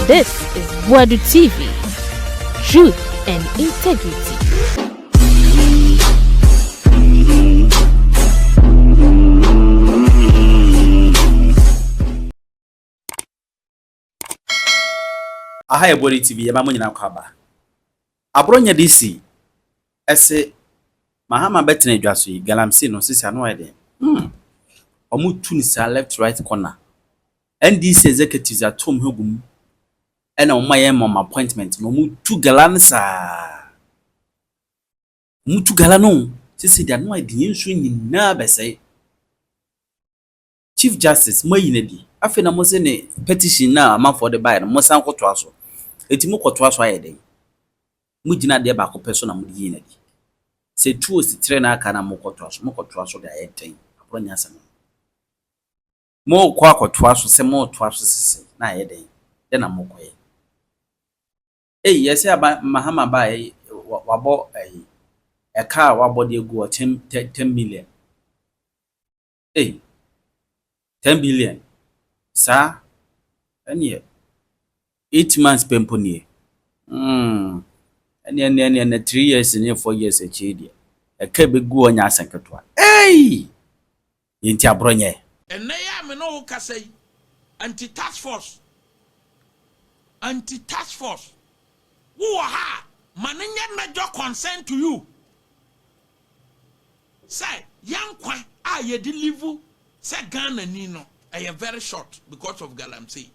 This is Buadu TV, truth and integrity. Aha yɛ Buadu TV, yɛma mo nyinaa kɔ aba. Aboro nyɛ de si ɛse Mahama bɛ tena dwa so yi galamsey no sisi ano ayɛ den hmm ɔmo tu no saa left right corner NDC executives ato ɔmo ho gum ɛna ɔmo ma yɛn ma ɔmo appointment no ɔmo tu gala no saa ɔmo tu gala no sisi de ano ayɛ den yɛn nsuo nyinaa bɛsɛe. Chief Justice, moayi no adi. Afei na mose ne petition no a amanfoɔ de baeɛ no, monsan nkɔtoa so. Enti mokɔtoa so ayɛ dɛn? Mogyina adeɛ baako pɛ so na mode yii no adi. Sɛ ɛtu osi tire na aka no a mokɔtoa so. Mokɔtoa so de ayɛ dɛn? Aborɔ nyɛ asɛm no. Morekɔ akɔtoa so sɛ moretoa so sesei na ayɛ dɛn? Dɛn na morekɔyɛ? Ei, yɛsɛ aba Mahama ba ei, wabɔ ei, ɛka a wabɔ de agu ɔkyɛm 10 million. Ei! Ten billion? Saa? Ɛneɛ eight months pɛ mpo nie? Hmm, ɛneɛ ɛneɛ ɛneɛ na three years ne four years akyiri deɛ, ɛka ɛbɛgu hɔ nyɛ asɛ ketewa. Ei! Yɛnti aborɔ nyɛ. Ɛnnɛ yi a me ne wo kasa yi, Anti-Task Force, Anti-Task Force, Wo wɔ ha a, ma no nyɛ major concern to you sɛ yɛn nkwa a yɛde live sɛ Ghanani no, ɛyɛ very short because of Galamsey.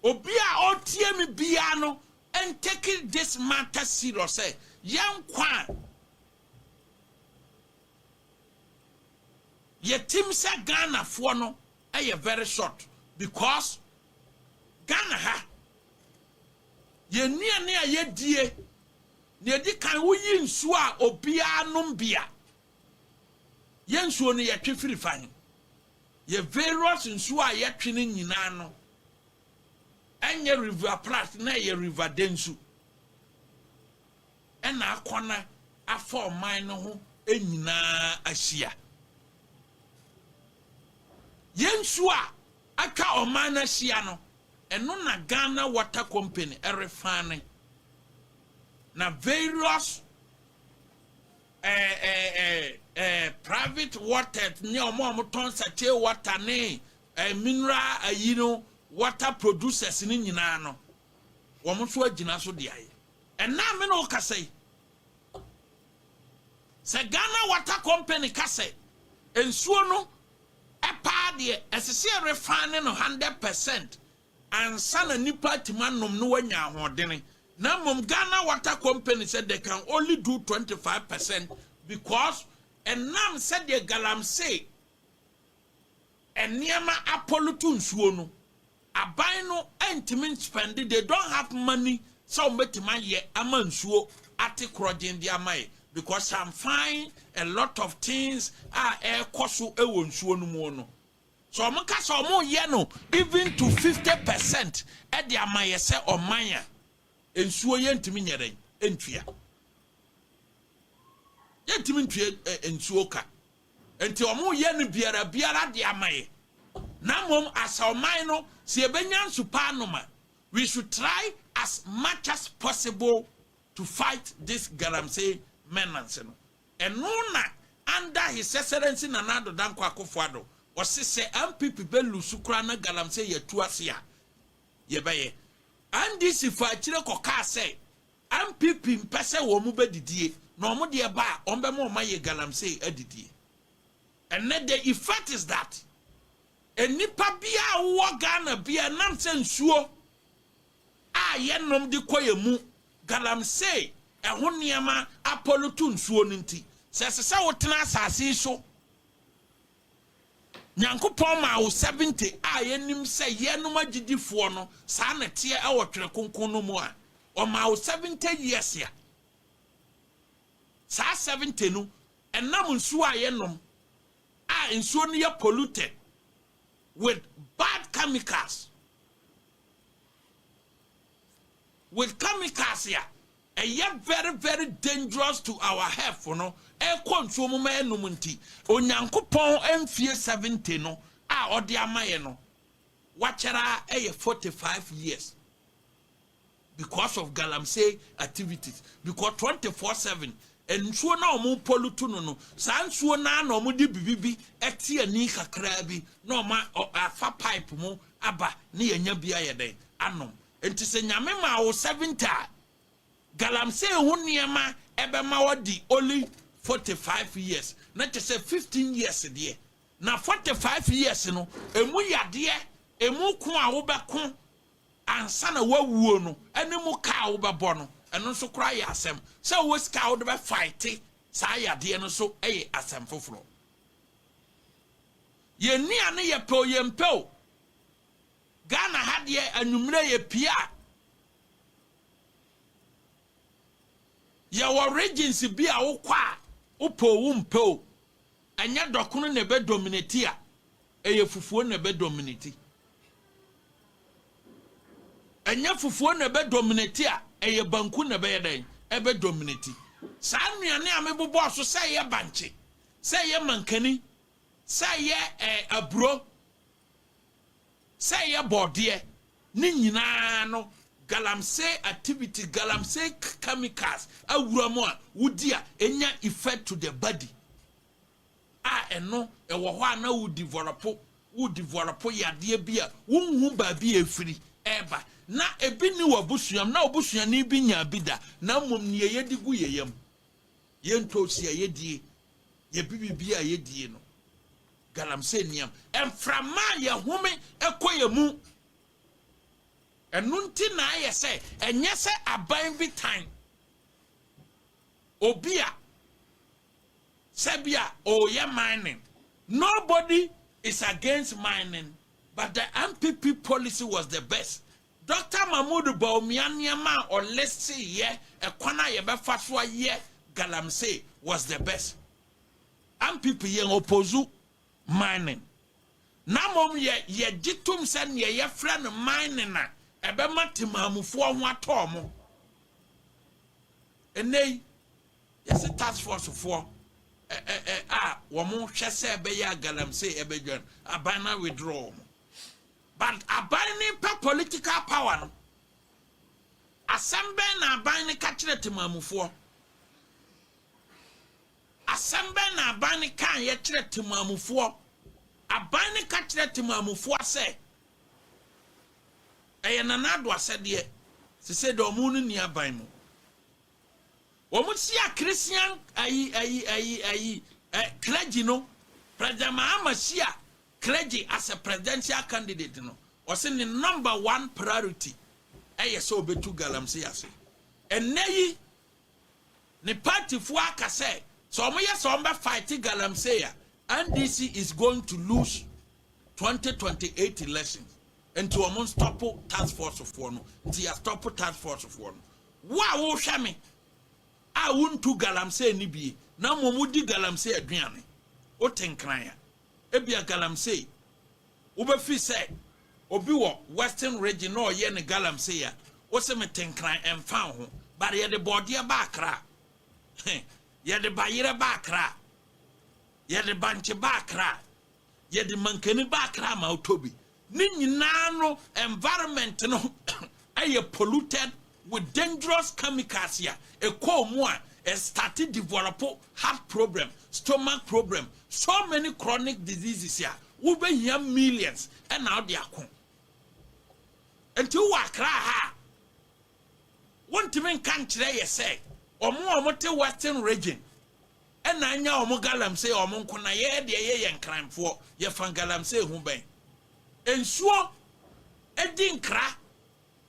Obi a ɔretie me biara no ntake this matter serious sɛ yɛn nkwa a yɛtim sɛ Ghanafoɔ no, Ɛyɛ very short because Ghana ha yɛn nnuane a yɛdie nea ɛdi kan woyi nsuo a obiara nom bi a yɛn nsuo no yɛtwe firi fa he yɛ various nsuo a yɛtwe no nyinaa no ɛnyɛ river prat na ɛyɛ river densu na akɔnnɔ afa ɔman no ho nyina ara ahyia. Yɛn nsuo a atwa ɔman no ahyia no, ɛno na Ghana Water Company refane, na various eh, eh, eh, eh, private water ne wɔn a wɔtɔn sachet water ne eh, mineral ayi no water producers no nyinaa no, wɔn nso agyina so de ayɛ. Ɛnnɛ a me ne wo kasa yi, sɛ Ghana Water Company ka sɛ nsuo no paa deɛ, ɛsɛ sɛ yɛrefane no hundred percent ansa na nnipa atumi anom na wɔanya ahoɔdene. Na mmom Ghana Water Company sɛ they can only do twenty five percent because ɛnam sɛdeɛ galamsey nneɛma apɔlutu nsuo no aban no ntumi nspɛnde they don't have money sɛ wɔn bɛtumi ayɛ ama nsuo ate korɔgyen de ama yɛ because some find a lot of things a ɛrekɔ so wɔ nsuo no mu no sɛ wɔn ka sɛ wɔn yɛ no even to fifty percent de ama yɛ sɛ ɔman a nsuo yɛ ntumi nyɛ dɛn ntua yɛ ntumi ntua nsuo ka. Enti wɔyɛ no biara biara de ama yɛ. Na mmom as ɔman no sɛ yɛbɛnya nsu pa anom a, we should try as much as possible to fight this galamsey menance no. Ɛno na under His Excellency Nana Addo Dankwa Akufo-Addo ɔse sɛ NPP bɛ lose koraa na galamsey atu ase a, yɛbɛyɛ. NDC faa akyire kɔkaa sɛ NPP mpɛ sɛ wɔn bɛ didie na wɔn deɛ ba a wɔn bɛ ma wɔn ayɛ galamsey adidie. Ɛnnɛ the effect is that nnipa biara a wowɔ Ghana biara ɛnam sɛ nsuo a yɛ nom de kɔ yɛ mu galamsey ɛho nneɛma apɔlutu nsuo no nti sɛ ɛsɛ sɛ wotena asase yi so Nyankopɔn maa wo seventy a yɛnim sɛ yɛnom agyidifoɔ no saa na ɛteɛ wɔ twerɛ kronkron no mu a ɔmaa wo seventy years a saa seventy no ɛnam nsuo a yɛnom a nsuo no yɛ polluted with bad chemicals with chemicals a ɛyɛ very very dangerous to our health no ɛkɔ nsuo mu ma yɛnom nti, Onyankopɔn mfie seventy no a ɔde ama yɛn no, wakyɛre ara yɛ forty five years because of galamsey activities because twenty four seven nsuo no a wɔn pollute no no, saa nsuo no ara na wɔde bibi bi ɛte ani kakraa bi na wɔn afa pipe mu aba ne yɛnya bi ayɛ dɛn anom. Enti sɛ Nyame maa wo seventy a, galamsey ho nneɛma ɛbɛma w'adi only forty five years, na kyɛ sɛ fifteen years deɛ, na forty five years no, ɛmu yadeɛ, ɛmu ko a wobɛko ansa na w'awuo no, ɛne mu ka a wobɛbɔ no, ɛno nso koraa yɛ asɛm. Sɛ wowɔ sika a wode bɛ fighte saa yadeɛ no nso yɛ asɛm foforɔ. Yɛn nnuane yɛpɛ o yɛmpɛ o, Ghana ha deɛ anwummerɛ yɛ pia. Yɛwɔ regions bi a wokɔ a wopɛ o wompɛ o ɛnyɛ dɔkono na ɛbɛ dominate a ɛyɛ fufuo na ɛbɛ dominate. Ɛnyɛ fufuo na ɛbɛ dominate a ɛyɛ banku na ɛbɛyɛ dɛn ɛbɛ dominate. Saa nnuane a mebobɔɔ so sɛ ɛyɛ bankye, sɛ ɛyɛ mankani, sɛ ɛyɛ eh, aburo, sɛ ɛyɛ bɔɔdeɛ ne nyinaa no galamsey activity galamsey chemicals awura mu a wodi a enya effect to the body a ɛno ɛwɔ hɔ a na wo develop wo develop yadeɛ bi a wonhu baabi a efiri ɛɛba na ebi ni wɔ abusuam na obusuani bi nya bi da na mmom nea yɛdi gu yɛ yam yɛn tosi a yɛdie yɛbi bibi a yɛdie no Galamsey nniam. Mframa a yɛhome kɔ yɛn mu. Ɛno nti na ayɛ sɛ ɛnyɛ sɛ aban bi tan obi a sɛ bi a ɔreyɛ mining. Nobody is against mining but the NPP policy was the best. Doctor Mahmood Bawumia nneɛma a ɔlisteyɛ, ɛkwan a yɛbɛfa so ayɛ Galamsey was the best. ampp yɛn opozu mining na mmom yɛ yɛgye tom sɛ neɛ yɛfrɛ no mining a ɛbɛma temaamufoɔ ho atɔ ɔmo. Ɛnnɛ yi yɛse task force foɔ ɛ ɛ ɛ a wɔn hwɛ sɛ ɛbɛyɛ a galamsey ɛbɛdwan aban na withdraw wɔn but aban ne pɛ political power no asɛm bɛn na aban ne ka kyerɛ temaamufoɔ. Asɛm bɛn na aban no kaeɛ kyerɛ temaamufoɔ? Aban no ka kyerɛ temaamufoɔ sɛ, ɛyɛ Nana Addo asɛdeɛ, sesei deɛ wɔn no nni aban mu. Wɔn si a Christian ayi ayi ayi ayi ɛ clergy no, President Mahama si a clergy as a presidential candidate no, ɔse ne number one priority ɛyɛ sɛ ɔbɛtu galamsey ase. Ɛnnɛ yi, ne party foɔ aka sɛ sɛ wɔn yɛ sɛ wɔn bɛ fight galamsey a NDC is going to lose 2028 elections nti wɔn nstɔpo task force foɔ no nti yɛ stɔpo task force foɔ no wo a wohwɛ me a wontu galamsey ne bie na mmom wodi galamsey aduane wote nkran a ebia galamsey Wobɛfiri sɛ obi wɔ western region na ɔyɛ no galamsey a, wose me te nkran ɛmfa nho. But yɛde bɔɔdeɛ ba Accra, he, yɛde bayerɛ ba Accra, yɛde bankye ba Accra, yɛde mankani ba Accra ma wotɔ bi. Ne nyinaa no environment no ɛyɛ polluted with dangerous chemicals a ɛkɔɔ mu a ɛ starte develop heart problem, stomach problem, so many chronic diseases a wo bɛ hia millions ɛna ɔde ako. Nti wo wɔ Accra ha a wo ntumi nka nkyerɛ yɛ sɛ ɔmo a ɔmo te western region ɛna anya ɔmo galamsey ɔmo nko na yɛ deɛ yɛ yɛ nkranfoɔ yɛ fa galamsey ho bɛn. Nsuo ɛdi nkra.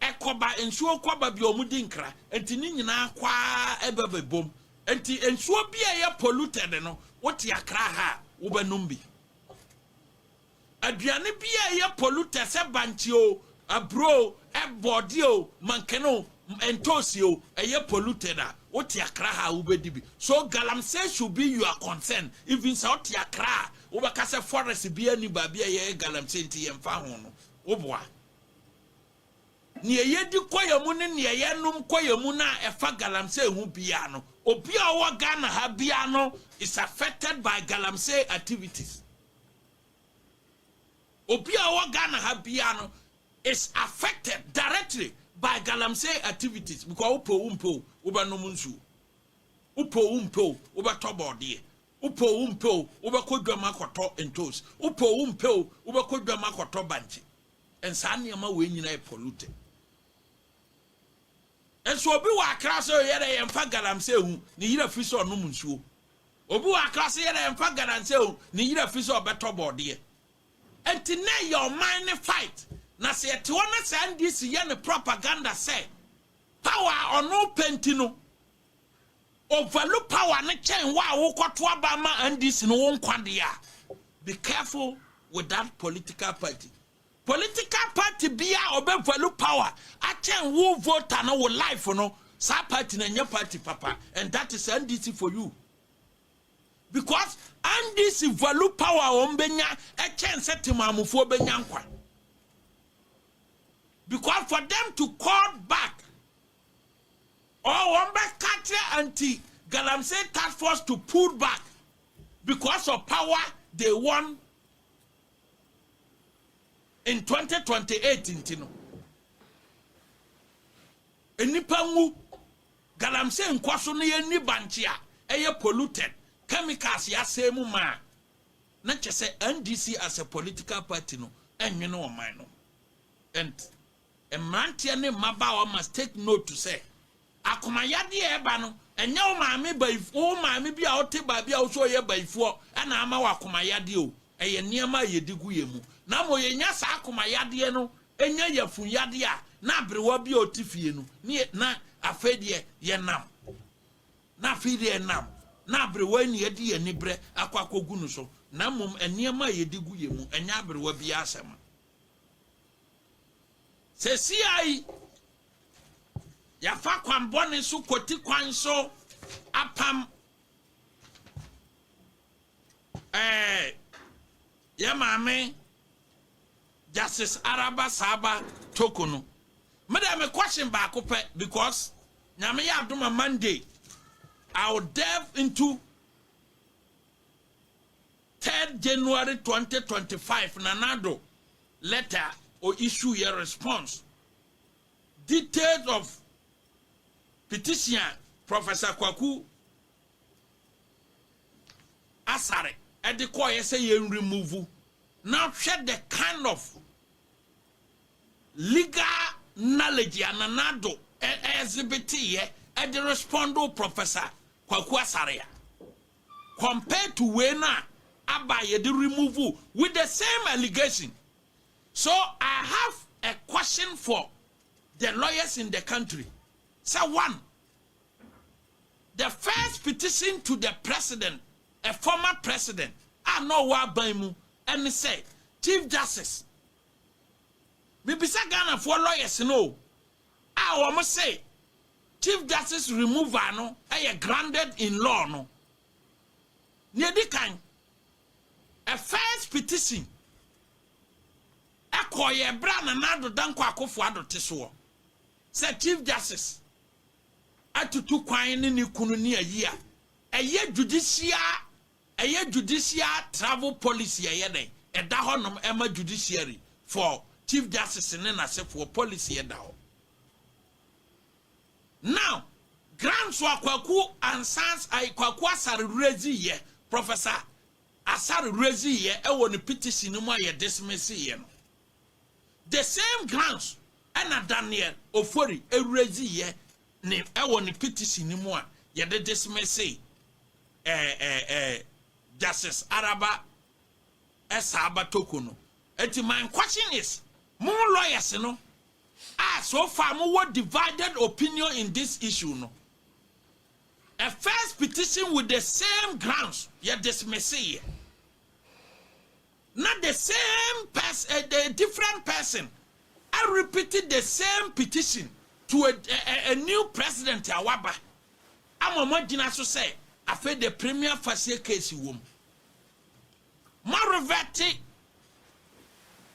Ɛkɔba nsuo kɔba bi a wɔn di nkra nti ne nyinaa kɔ ara bɛ bɛ bom nti nsuo bi a ɛyɛ polluted no wo te akra ha a wo bɛ nom bi aduane bi a ɛyɛ polluted sɛ bankye o aburo o ɛbɔɔdeɛ o mankene o ntoosi o ɛyɛ polluted a wo te akra ha a wo bɛ di bi so galamsey should be your concern even sɛ wo te akra a wo bɛ ka sɛ forest bi a ni baabi a yɛ yɛ galamsey nti yɛ nfa ho no wo boa. Nea yɛdi kɔ yɛn mu ne nea yɛnom kɔ yɛn mu no a ɛfa galamsey ho biara no, obi a ɔwɔ Ghana ha biara no is affected by galamsey activities. Obi a ɔwɔ Ghana ha biara no is affected directly by galamsey activities because wopɛ o wompɛ o wobɛnom nsuo, wopɛ o wompɛ o wobɛtɔ bɔɔdeɛ, wopɛ o wompɛ o wobɛkɔ dwam akɔtɔ ntoosi, wopɛ o wompɛ o wobɛkɔ dwam akɔtɔ bankye. And saa nneɛma wei nyinaa yɛ polluted. Nso obi wɔ akra sɛ yɛdɛ yɛmfa galamsey hu ne yere afi sɛ ɔnom nsuo. Obi wɔ akra sɛ yɛdɛ yɛmfa galamsey hu ne yere afi sɛ ɔbɛtɔ bɔɔdeɛ. Nti na ɛyɛ ɔman ne fight. Na sɛ yɛte hɔ na saa NDC yɛ ne propaganda sɛ power a ɔno pɛ nti no Overlook power no kyɛn wo a wokɔto aba ma NDC no wo nkwa deɛ a, be careful with that political party. Political party bi a ɔbɛ value power akyɛn wo voter no wo life no, saa party no ɛnyɛ party papa and that is NDC for you. Because NDC value power a wɔn bɛnya ɛkyɛn sɛ temaamufoɔ bɛnya nkwa. Because for them to call back Or wɔn bɛ ka kyerɛ anti galamsey task force to pull back because of power they won in twenty twenty eight nti no nnipa nwu galamsey nkɔ so na yɛnni bankye a ɛyɛ polluted chemicals yɛasɛe mu ma a na kyɛ sɛ NDC as a political party no ɛnwene ɔman no ho and Mmeranteɛ ne mmabaawa must take note sɛ, akomayadeɛ a ɛba no, ɛnyɛ wo maame bayif wo maame bi a ɔte baabi a wo sɛ ɔyɛ bayifoɔ na ama wo akomayadeɛ o, ɛyɛ nneɛma a yɛdi gu yɛn mu. Na mmom yɛnya saa akomayadeɛ no nya yafunyadeɛ a, na aberewa bi a ɔte fie no, ne yɛ na afei deɛ yɛnam, na afei deɛ yɛnam, na aberewa yi na yɛde yɛn aniberɛ akɔ akɔgu no so. Na mmom nneɛma a yɛdi gu yɛn mu, ɛnyɛ aberewa biara asɛm. Sesia yi, yɛafa kwan bɔne so kɔti kwan so apam ɛɛ yɛ maame Justice Araba Saaba Toko no. Me dɛ me question baako pɛ because nyame yɛ adoma Monday I will delve into third January twenty twenty five Nana Addo letter a o issue yɛ response details of petition a Professor Kwaku Asare ɛde kɔɔyɛ sɛ yɛn remove na hwɛ the kind of legal knowledge a Nana Addo exhibit yɛ ɛde respond Professor Kwaku Asare a compared to wei no a aba a yɛde remove with the same allegation so I have a question for the lawyers in the country sɛ one the first petition to the president a former president a na ɔwɔ aban mu ɛne sɛ chief justice mebisa Ghanafoɔ lawyers no o. a wɔse Chief Justice removal no yɛ grounded in law no, nea edi kan, a first petition kɔeɛ bere a Nana Addo Dankwa Akufo-Addo te soɔ sɛ Chief Justice atutu kwan ne ne kunu ne ayi a ɛyɛ judicial Ɛyɛ judicial travel policy ɛyɛ dɛn? Ɛda hɔ nom ɛma judiciary for chief justice ne nasefoɔ policy ɛda hɔ now grants a kwaku ansans ai kwaku asare rezi yɛ professor asare rezi yɛ ɛwɔ ne petition no mu a yɛ dismiss yɛ no the same grants ɛna daniel ofori rezi yɛ ne ɛwɔ ne petition no mu a yɛde dismiss eh eh eh Justice Araba eh saa ba toko no. Enti my question is mo lawyers no a so far mo wɔ divided opinion in this issue no, eh first petition with the same grounds yɛ dismisse yɛ. na the same pers a a different person arepeat the same petition to a a a new president a waba ama moagyina so sɛ afei deɛ premier fasie case wom. Moarevɛte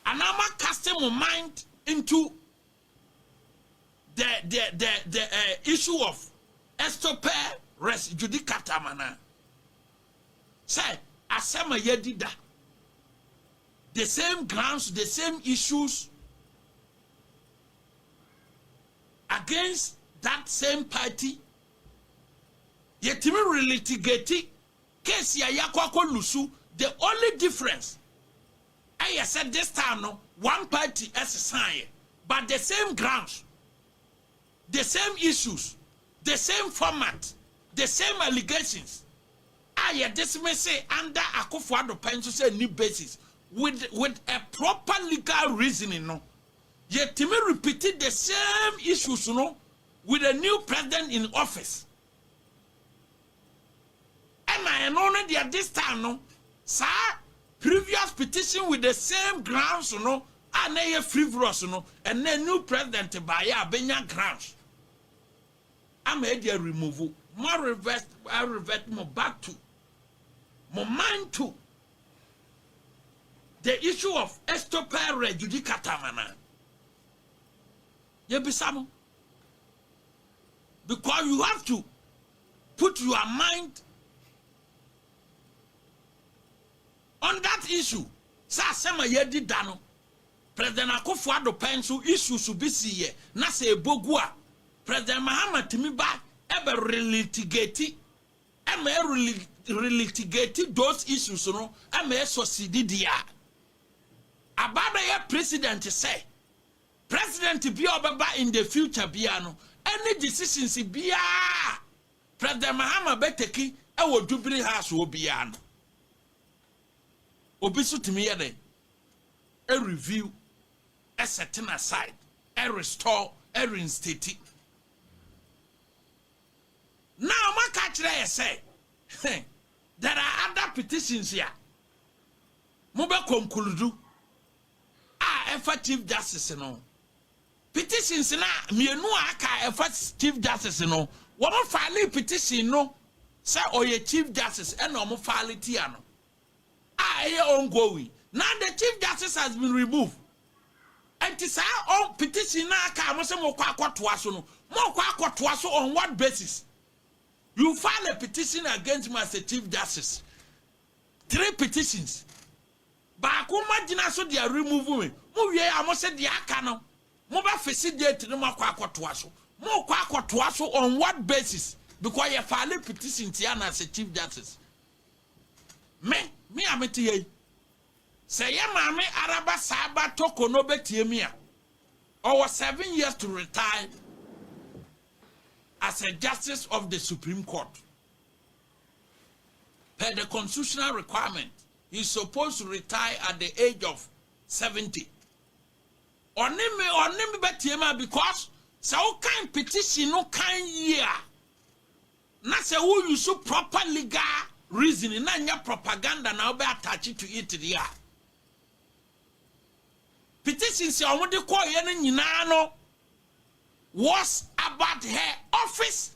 anaa moacaste mo mind into the the the the uh, issue of estope res judicata mana sɛ asɛm a yɛadi da the same grounds the same issues against that same party yɛtumi relitigate case a yɛakɔ akɔ lusu the only difference Ɛyɛ sɛ this time no one party sesaeɛ but the same grounds, the same issues, the same format, the same allegations a yɛ dismisse under Akufo Addo pɛ nso sɛ nni basis with with a proper legal reasoning no, yɛtumi repeat the same issues no with a new president in office. Ɛna ɛno no deɛ this time no saa previous petition with the same grounds no a na ɛyɛ frivolous no ɛnɛ new president baeɛ a bɛnya grounds ama ɛde a remove mo revert revert mo back to mo mind to the issue of estopel re judicata mana yɛbisa mo Because you have to put your mind on that issue sɛ asɛm a yɛadi da no President Akufo Addo pɛn so issues bi si yɛ na sɛ ɛbɔ gu a President Mahama tumi ba ɛbɛ relitigate ɛma ɛ relitigate those issues no ɛma ɛsɔ sidi di a aba bɛyɛ president sɛ President biaa ɔbɛba in the future biaa no any decisions biaa a President Mahama bɛ take wɔ Jubilee House hɔ biaa no obi so tumi yɛ dɛn review, setting aside, restore, reinstate. Na ɔmo aka akyerɛ yɛ sɛ there are other petitions a mo bɛ conclude a ɛfa Chief Justice no ho. Petitions no a mmienu a aka a ɛfa Chief Justice no, wɔfaalee petition no sɛ ɔyɛ Chief Justice ɛna wɔfaale tia no a ɛyɛ ongoing. Now the Chief Justice has been removed. Ɛnti saa ɔn petition no a aka a mo sɛ mokɔ akɔtoa so no, mokɔ akɔtoa so on what basis? You file a petition against me as a Chief Justice. Three petitions. Baako mo agyina so de a remove me mo wie a mo se deɛ aka no mo bɛ fese date no mo akɔ akɔtoa so mo kɔ akɔtoa so on what basis because yɛ file petition tia no as a chief justice me me a me te ha yi sɛ yɛ maame araba saa ba toko no bɛ tie me a ɔwɔ seven years to retire as a justice of the supreme court Per the constitutional requirement, he supposed to retire at the age of 70. Ɔne me ɔne me bɛteam a because sɛ wokan petition no kan yie a na sɛ wo use proper legal reasoning na nyɛ propaganda na wobɛ attach to it deɛ a petition sɛ ɔmo de kɔɔyɛ no nyinaa no was about her office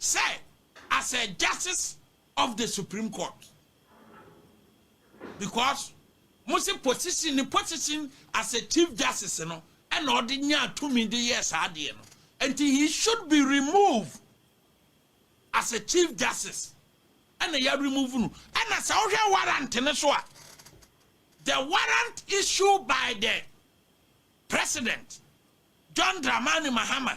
sɛ as a justice of the supreme court because mo se position ne position as a chief justice no ɛna ɔde nyaa tumi de yɛɛ saa adeɛ no nti he should be removed as a chief justice ɛna yɛ remove no ɛna sɛ wohwɛ warrant no so a the warrant issued by the president John Dramani Mahama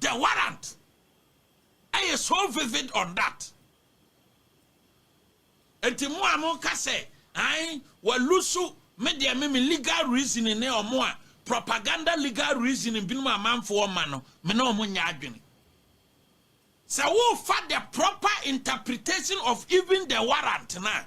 The warrant ɛyɛ so vivid on that. Enti mo a mo ka sɛ an wa lusu me deɛ me me legal reasoning ne ɔmo a propaganda legal reasoning binom amanfoɔ ma no me ne ɔmo nyɛ adwene. Sɛ wo fa the proper interpretation of even the warrant no a.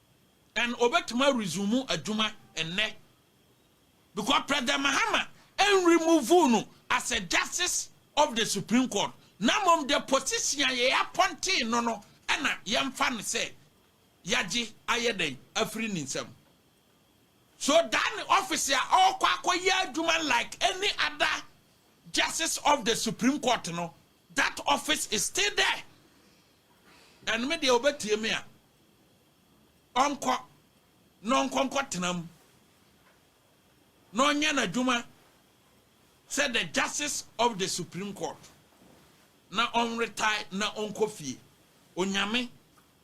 And obetumi a resume adwuma nnɛ because President Mahama en remove no as a justice of the Supreme Court na mmom the position a yɛ appointee no no na yɛmfa no sɛ yɛagye ayɛ dɛn afiri ne nsam. So that ne office a ɔrekɔ akɔyɛ adwuma like any other justice of the Supreme Court no that office is still there. And me deɛ obetie me a ɔnkɔ na ɔnkɔ nkɔtena mu na ɔnyɛ n'adwuma sɛ the justice of the supreme court na ɔnretae na ɔnkɔ fie. Onyame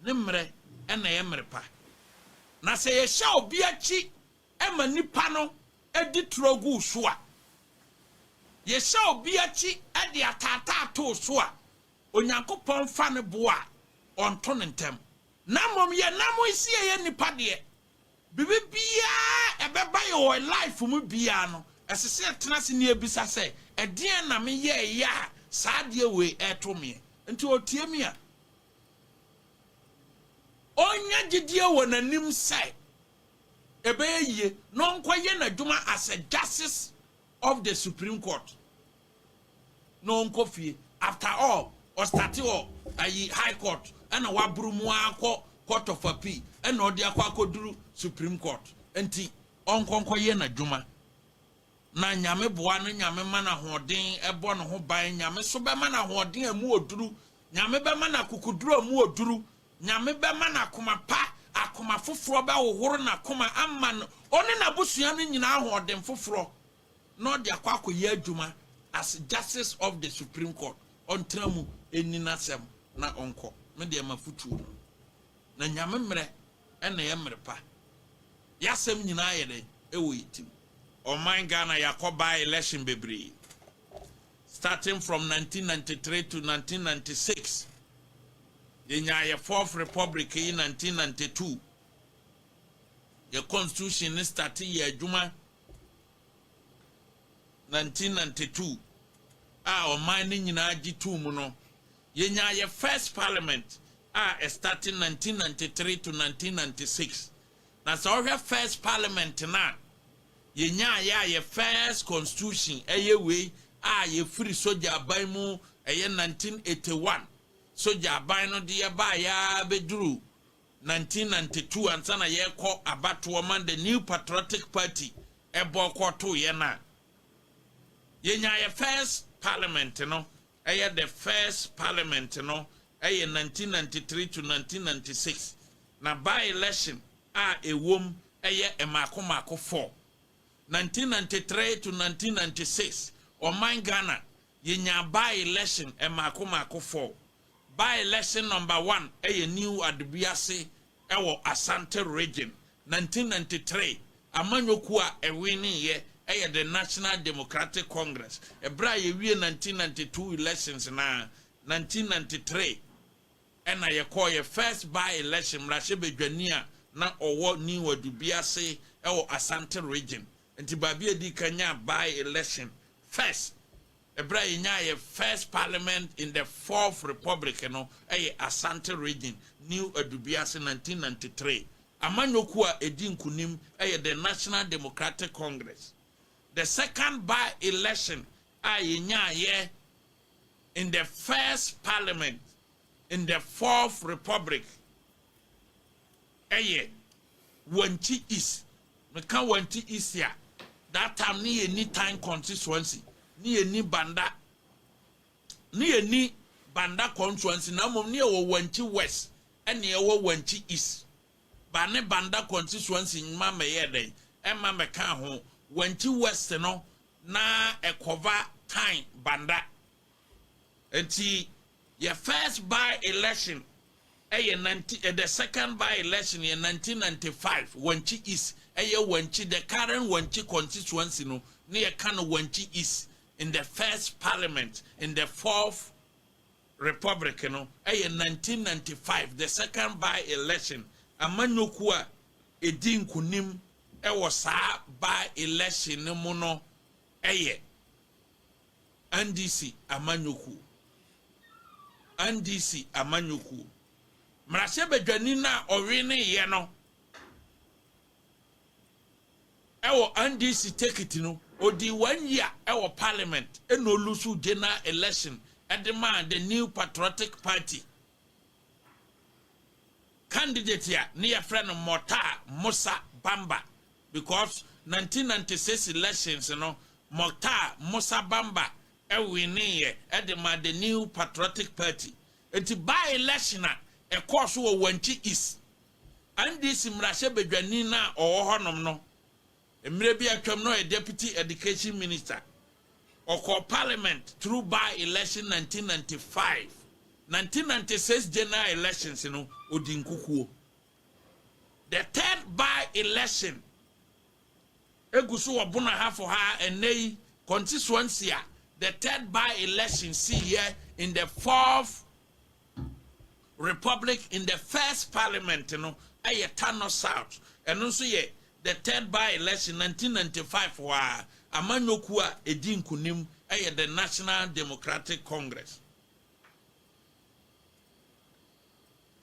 ne mmerɛ na ɛyɛ mmerɛ pa. Na sɛ yɛhyɛ obi akyi ma nipa no di torɔ gu wo so a, yɛhyɛ obi akyi de ataataa to wo so a, Onyankopɔn mfa ne bo a ɔnto no ntɛm. Na mmom yɛ na mo nsi ɛyɛ nnipa deɛ. Biribi biara ɛbɛba yɛ wɔ life mu biara no ɛsɛ sɛ yɛtena ase na yɛbisa sɛ ɛdeɛn na me yɛɛyɛ a saa adeɛ wei ɛɛto meɛ? Nti ɔtie me a ɔnya gyedie wɔ n'anim sɛ ɛbɛyɛ yie na ɔnkɔ yɛ n'adwuma as a justice of the supreme court. na ɔnkɔ fie after all ɔstate wɔ ayi high court ɛna waboro mu ara kɔ court of appeal ɛna ɔde akɔ akɔduru supreme court nti ɔnkɔ nkɔyɛ n'adwuma na nyame boa no nyame ma no ahoɔden ɛbɔ ne ho ban nyame so bɛma no ahoɔden a mu oduru nyame bɛma no akokoduru a mu oduru nyame bɛma no akoma pa akoma foforɔ bɛhohoro n'akoma ama no ɔne n'abusua no nyinaa ahoɔden foforɔ na ɔde akɔ akɔyɛ adwuma as justice of the supreme court ɔntena mu nni nasɛm na ɔnkɔ me deɛ mafotuo no na nyame mmerɛ na ɛyɛ mmerɛ pa yasɛm nyinaa yɛ dɛn ɛwɔ yɛ tim ɔman Ghana yakɔ by election bebree starting from 1993 to 1996 yɛnyaa yɛ fourth republic yi 1992 yɛ constitution ne starte yɛ adwuma Nineteen ninety two a ɔman no nyinaa gye too mu no, yɛnyaa yɛ first parliament a ɛstate nineteen ninety three to nineteen ninety six. Na sɛ ɔhwɛ first parliament no a yɛnyaa yɛ a yɛ first constitution ɛyɛ wei a yɛfiri sogya aban mu ɛyɛ nineteen eighty one sogya aban no de yɛbaa yɛ ara bɛduru 1992 ansa na yɛrekɔ abatoɔ ma The New Patriotic Party bɔɔ kɔɔ too yɛn no a, yɛnyaa yɛ first parliament no yɛ the first parliament no yɛ 1993 to 1996 na by election a ɛwom yɛ mmaako mmaako four. 1993 to 1996 ɔman Ghana yɛnyaa by election mmaako mmaako four By election number one ɛyɛ New Adubiase ɛwɔ Asante Region, nineteen ninety three amanyɔkuo a ɛwineeɛ ɛyɛ the National Democratic Congress, ɛberɛ a yɛwie nineteen ninety two elections no ara, nineteen ninety three ɛna yɛkɔɔeɛ first by election mmarahyɛbadwani a na ɔwɔ New Adubiase ɛwɔ Asante Region, nti baabi a ɛdiikan nyaa by election first. Ɛberɛ a yɛnyaa yɛn first parliament in the fourth republic no ɛyɛ Asante region, New Adubiase, 1993. Amanyɔkuo a ɛdi nkunim ɛyɛ the National Democratic Congress. The second by election a yɛnyaaeɛ in the first parliament in the fourth republic ɛyɛ Wanti East. Meka Wanti East a, that time ne yɛnni Tan constituency, ne yɛnni Banda, ne yɛnni Banda constituency, na mmom ne yɛwɔ Wanti West ɛne ɛwɔ Wanti East. Ba ne Banda constituency mma mɛyɛ dɛn, ɛmma mɛka ho. Wanti West no, na ɛkɔva Tan Banda. Nti yɛ first by election yɛ ninety the second by election yɛ nineteen ninety five Wankye East ɛyɛ Wankye the current Wankye constituency no ne yɛ ka no Wankye East in the first parliament in the fourth republic no ɛyɛ nineteen ninety five the second by election amanyɔkuo a ɛdi nkunim ɛwɔ saa by election no mu no ɛyɛ. NDC amanyɔkuo, NDC amanyɔkuo, mmarahyɛbadwani no a ɔweneeɛ no ɛwɔ NDC tekiti no, ɔdii one year ɛwɔ parliament ɛna ɔlusu general election ɛde maa the New Patriotic Party. Candidate a ne yɛfrɛ no Mortaa Mosa Bamba because nineteen ninety six elections no Mortaa Mosa Bamba wineeɛ de maa the New Patriotic Party. Nti by election a ɛkɔɔ so wɔ Wankye East, NDC mmarahyɛbadwani no a ɔwɔ hɔnom no Mmerɛ bi atwam na ɔyɛ Deputy Education Minister. Ɔkɔɔ Parliament through by election nineteen ninety five, nineteen ninety six general elections no ɔdi nkukuo. The third by election ɛgu so wɔ Bono Ahafo ha a ɛnnɛ yi constituency a the third by election siiɛ in the fourth Republic in the first parliament no yɛ Tano South, ɛno nso yɛ the third by-election, nineteen ninety five hɔ ara. Amanyɔ kuo a ɛdi nkunim yɛ the National Democratic Congress.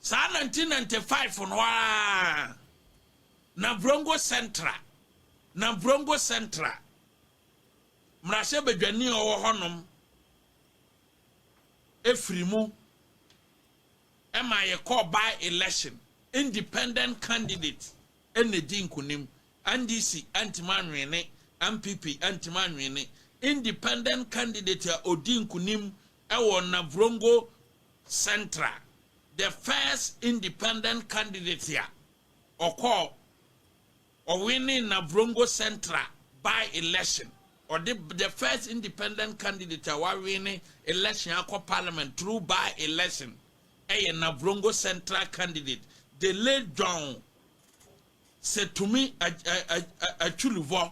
Saa nineteen ninety five no ara na Brongo Central, na Brongo Central mmarahyɛbadwani a ɔwɔ hɔnom firi mu ma yɛkɔɔ by election, independent candidate na ɛdii nkunim, NDC antumi anwene, NPP antumi anwene, independent candidate a ɔdii nkunim wɔ Navrongo Central, the first independent candidate a ɔkɔɔ Ɔwinee Navrongo Central by election. Ɔde the first independent candidate a wawine election akɔ parliament through by election yɛ Navrongo Central candidate, the late John Setumi Atwuluvɔ.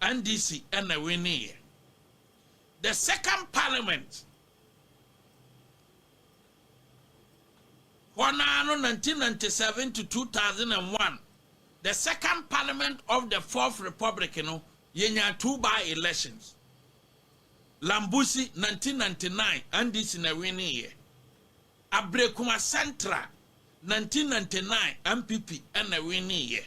NDC na winnieɛ. The second parliament hɔ no ara no 1997 to 2001 the second parliament of the fourth republic no yɛnyaa two by elections. Lambusi 1999 NDC na winnieɛ. Abrekuma Central 1999 MPP na winnieɛ.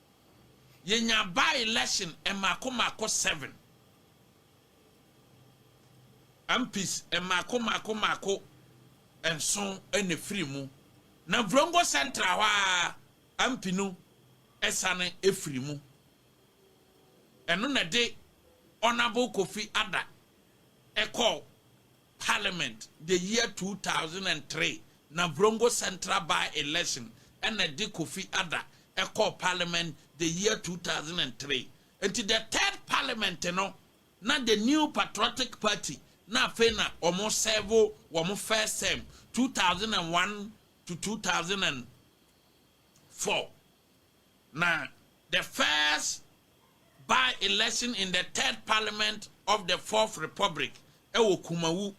Yenya by-election mmaako mmaako seven, MPs mmaako mmaako mmaako nson na efiri mu, na Vrongo Central hɔ ara MP no sane firi mu. Ɛno na ɛde Honourable Kofi Adda kɔɔ Parliament the year two thousand and three na Vrongo Central by election na ɛde Kofi Ada kɔɔ Parliament the year two thousand and three nti the third Parliament no na the New Patriotic Party na afei na wɔn serve wɔn first term two thousand and one to two thousand and four Na the first by-election in the third parliament of the fourth republic ɛwɔ Kumawu.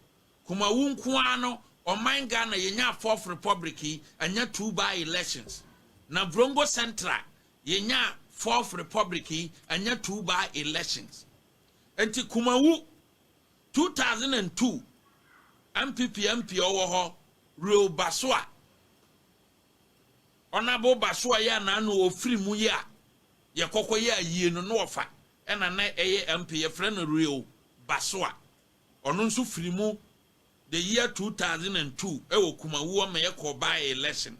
Kumawu nko ara no ɔman Ghana yɛnyaa fourth republic yi anya two by-elections. Na Vrongo Central yɛnyaa fourth republic yi anya two by-elections. Nti Kumawu 2002 NPP MP ɔwɔ hɔ Real Basua Ɔnabo ba so a yɛ a n'ano wɔ firi mu yɛ a yɛ kɔkɔ yɛ ayie no na ɔfa ɛna na ɛyɛ ampe yɛ frɛ no real ba so a ɔno nso firi mu the year two thousand and two ɛwɔ Kumawu ɔma yɛ kɔɔ by election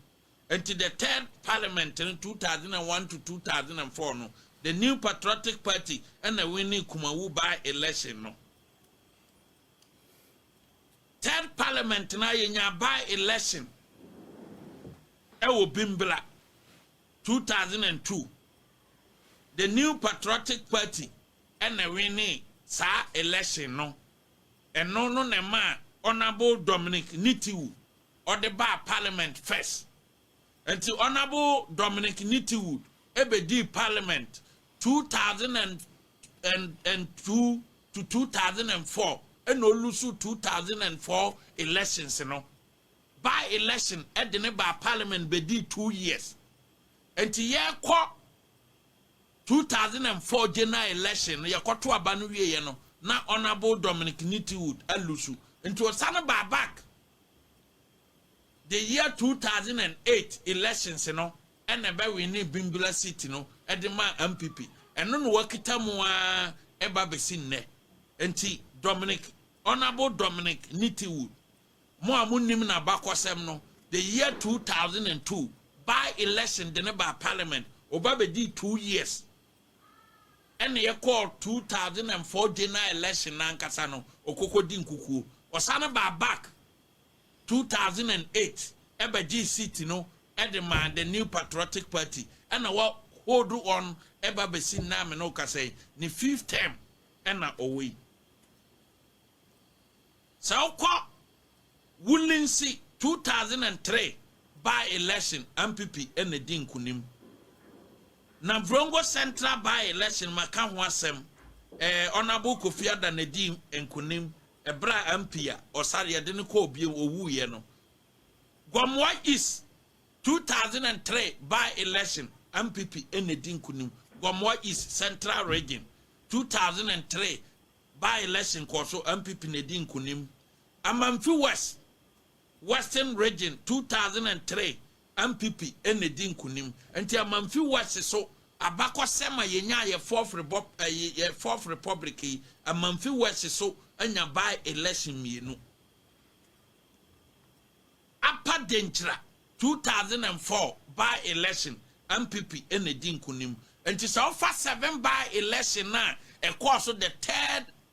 nti the third parliament no two thousand and one to two thousand and four no the new patriotic party ɛna winning Kumawu by election no. Third parliament no a yɛnyaa by election wɔ Bimbra two thousand and two, the New Patriotic Party na ɛwinee saa election no. Ɛno no na ɛmaa Honourable Dominic Nitiwu ɔde baa parliament first Enti Honourable Dominic Nitiwud bɛdii Parliament two thousand and two to two thousand and four ɛna ɔlusu two thousand and four elections no. By election de no baa Parliament bɛdii two years. Enti yɛrekɔ two thousand and four general election no yɛkɔto aba no wieeɛ no na Honourable Dominic Nitiwud alusu. Enti ɔsane baa back. the year two thousand and eight elections no na ɛbɛ winee Bimbilla seat no de maa ampp, ɛno na wɔakita mu ara ba bɛsi nnɛ. Nti Dominic, Honourable Dominic Nitiwood, mo a monnim n'abakɔsɛm no, the year two thousand and two by election de no baa parliament, ɔba bɛdii two years, ɛna yɛkɔɔ two thousand and four general election no ankasa no, ɔkɔkɔdi nkukuo, ɔsane baa back, two thousand and eight bɛgyee seat no de maa The New Patriotic Party na wa hold wɔn ba bɛsi nnɛ a me ne wo kasa yi, ne fifth term na ɔwɔ yi. Sɛ wokɔ Wolinsi two thousand and three by election ampp na di nkunim. Navrongo Central by election maka ho asɛm ɛɛ Honourable Kofi Ada na di nkunim Bere a ampii a ɔsare yɛde no kɔɔ bio owuiɛ no, Gomoa East two thousand and three by election NPP na edi nkunim Gomoa East Central Region two thousand and three by election kɔɔ so NPP na edi nkunim Amanfi West Western Region two thousand and three Ampipi na edi nkunim. Nti Amanfi West so abakɔsɛm a yɛnyaa yɛ fourth rebop ɛyi yɛ fourth republic yi, Amanfi West so anya by election mmienu. Apa Denkyira two thousand and four by election, Ampipi na edi nkunim. Nti sɛ wofa seven by election no a ɛkɔɔ so the third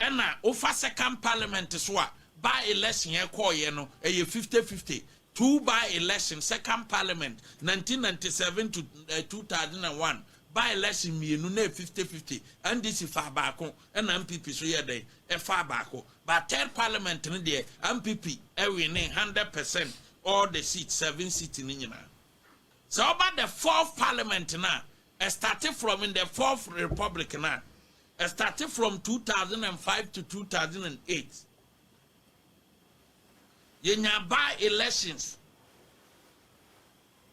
Ɛna wofa second parliament so a, by election ɛkɔɔ yɛ no ɛyɛ fifty fifty, two by election second parliament nineteen ninety seven to two thousand and one by election mmienu na ɛyɛ fifty fifty, NDC faa baako ɛna NPP so yɛɛ dɛn ɛfaa baako but third parliament no deɛ NPP ɛwinee hundred percent all the seat seven seat no nyinaa. Sɛ woba the fourth parliament no a ɛstarte from in the fourth republic no a Ɛstarte from two thousand and five to two thousand and eight yɛnyaa by elections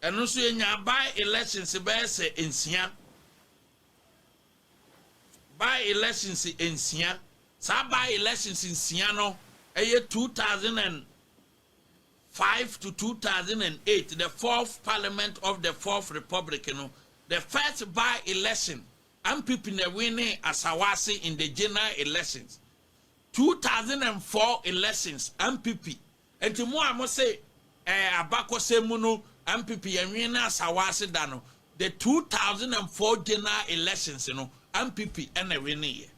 ɛno nso yɛnyaa by elections bɛyɛ sɛ nsia by elections nsia saa by elections nsia no ɛyɛ two thousand and five to two thousand and eight the fourth parliament of the fourth republic no the first by election Ampp na ɛwinee Asawase in the general elections, two thousand and four elections Ampp, nti mo a mo se ɛɛ abakɔsɛm mu no Ampp yɛ nwene Asawase da no, the two thousand and four general elections no Ampp na ɛwineeɛ.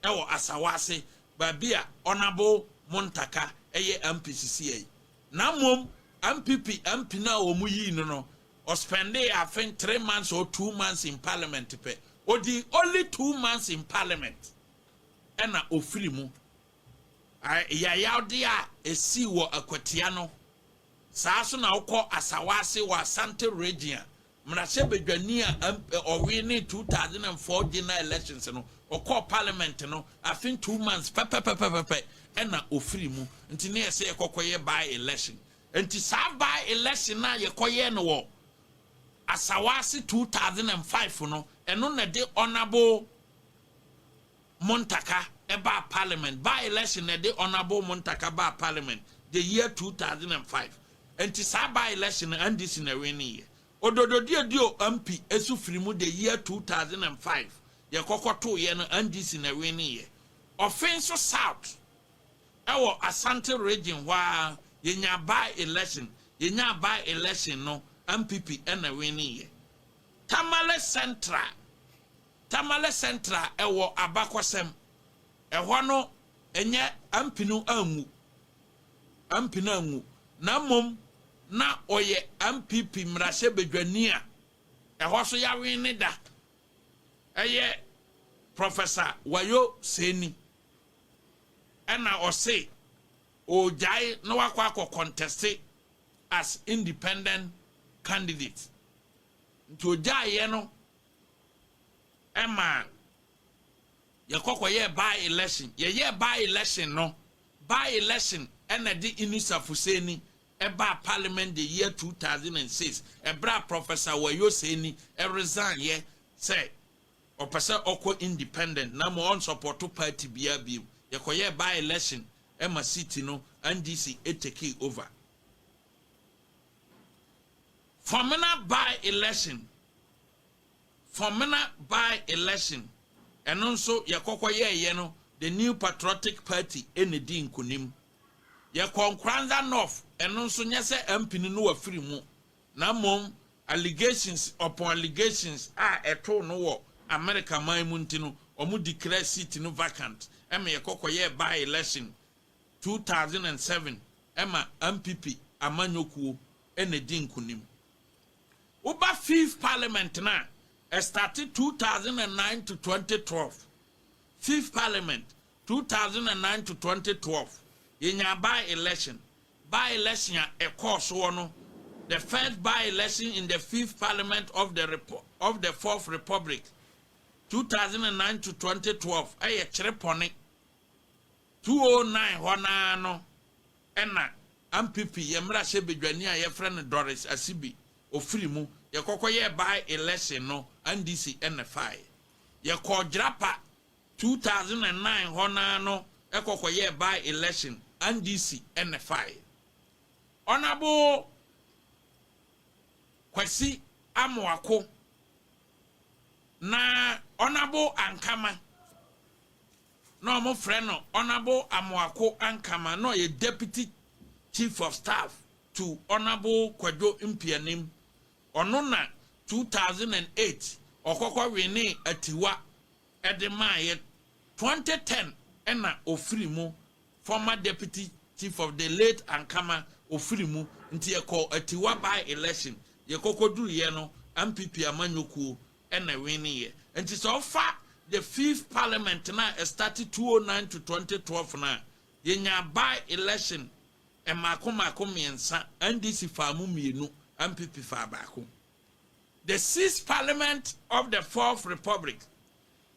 wɔ asawa ase baabi a Ɔnabow Montaka yɛ MP sisiɛ yi. Na mmom MPP MP no a wɔn yii no no ɔspɛndee afe three months or two months in parliament pɛ. Ɔdii only two months in parliament ɛna ɔfiri mu. Yayawdeɛ a ɛsii wɔ Akwatia no saa so na wokɔ asawa ase wɔ Asante region a mmarahyɛbadwani a ɔwee ne two thousand and four general elections no ɔkɔɔ parliament no afin two months pɛpɛpɛpɛpɛ ɛna ofiri mu nti ne yɛsɛ yɛkɔkɔyɛ by election nti saa by election a yɛkɔyɛ no wɔ asawaase two thousand and five no ɛno na de honourable Muntaka baa parliament by election na ɛde Honourable Muntaka baa parliament the year two thousand and five nti saa by election no NDC na ɛwinne yɛ. Odododie di o MP ɛsu firi mu the year two thousand and five yɛ kɔkɔ too yɛ no NDC na ɛwinne yɛ. Ɔfe nso south ɛwɔ Asante region hɔ ara yɛ nyaa by election yɛ nyaa by election no NPP ɛna ɛwinne yɛ. Tamale central. Tamale Central ɛwɔ abakɔsɛm. Ɛhɔ no ɛnyɛ Ampi no anwu, Ampi no anwu, na mmom na ɔyɛ Ampipi mmarahyɛbadwani a ɛhɔ so yɛawen ne da, ɛyɛ Professor Wayo Seni, ɛna ɔse ɔregyae na wakɔ akɔ kɔntɛste as independent candidate. Nti ɔgyaeɛ no ɛma yɛkɔ kɔyɛɛ by election yɛyɛɛ by election no by election ɛna ɛde Inusa Fuseni ɛbaa parliament the year 2006 ɛberɛ a Professor Wayo Seni ɛresign yɛ sɛ ɔpɛ sɛ ɔkɔ independent na ma ɔnsɔpɔto party biara bio yɛkɔyɛɛ by election ɛma seat no NDC ɛtekee over Fɔmena by election, Fɔmena by election, ɛno nso yɛkɔkɔ yɛɛyɛ no the new patriotic party na ɛdii nkunim. Yɛkɔɔ Nkoranza North ɛno nso nyɛ sɛ Ampini no wafiri mu na mmom allegations upon allegations a ɛtoo no wɔ America man mu nti no wɔn declare seat no vacant ma yɛkɔkɔ yɛɛ by election two thousand and seven ma Ampipi amanyɔkuo na edi nkonim. Woba Fifth Parliament no a, ɛstate two thousand and nine to twenty twelve, Fifth Parliament, two thousand and nine to twenty twelve, yɛnyaa by-election. By-election a ɛkɔɔ soɔ no, the first by-election in the Fifth Parliament of the Repu of the Fourth Republic, two thousand and nine to twenty twelve, ɛyɛ kyerepɔne. 2009 hɔ no ara no na Ampipi, yɛn mmarahyɛbadwani a yɛfrɛ no Doris Asibi, ɔfiri mu. Yɛkɔkɔyɛɛ by election no, NDC na ɛfaeɛ. Yɛkɔɔ Gyirapa 2009 hɔ no ara no kɔkɔyɛɛ by election, NDC na ɛfaeɛ. Honourable Kwasi Amoako na Honourable Ankama na wɔfrɛ no Honourable Amoako Ankama na ɔyɛ Deputy Chief of Staff to Honourable Kwadwo Mpianim. Ɔno na two thousand and eight ɔkɔkɔ winee Atiwa de maaeɛ, twenty ten na ɔfiri mu, former Deputy Chief of the late Ankama ɔfiri mu nti yɛkɔɔ Atiwa by-election, yɛkɔkɔduruiɛ no MPP amanyɔkuo na ɛwinne yɛ nti sɛ ɔfa the fifth parliament no a ɛstate two oh nine to twenty twelve no a yɛnyaa by election mmaako mmaako mmiɛnsa NDC faa mu mmienu NPP faa baako the sixth parliament of the fourth republic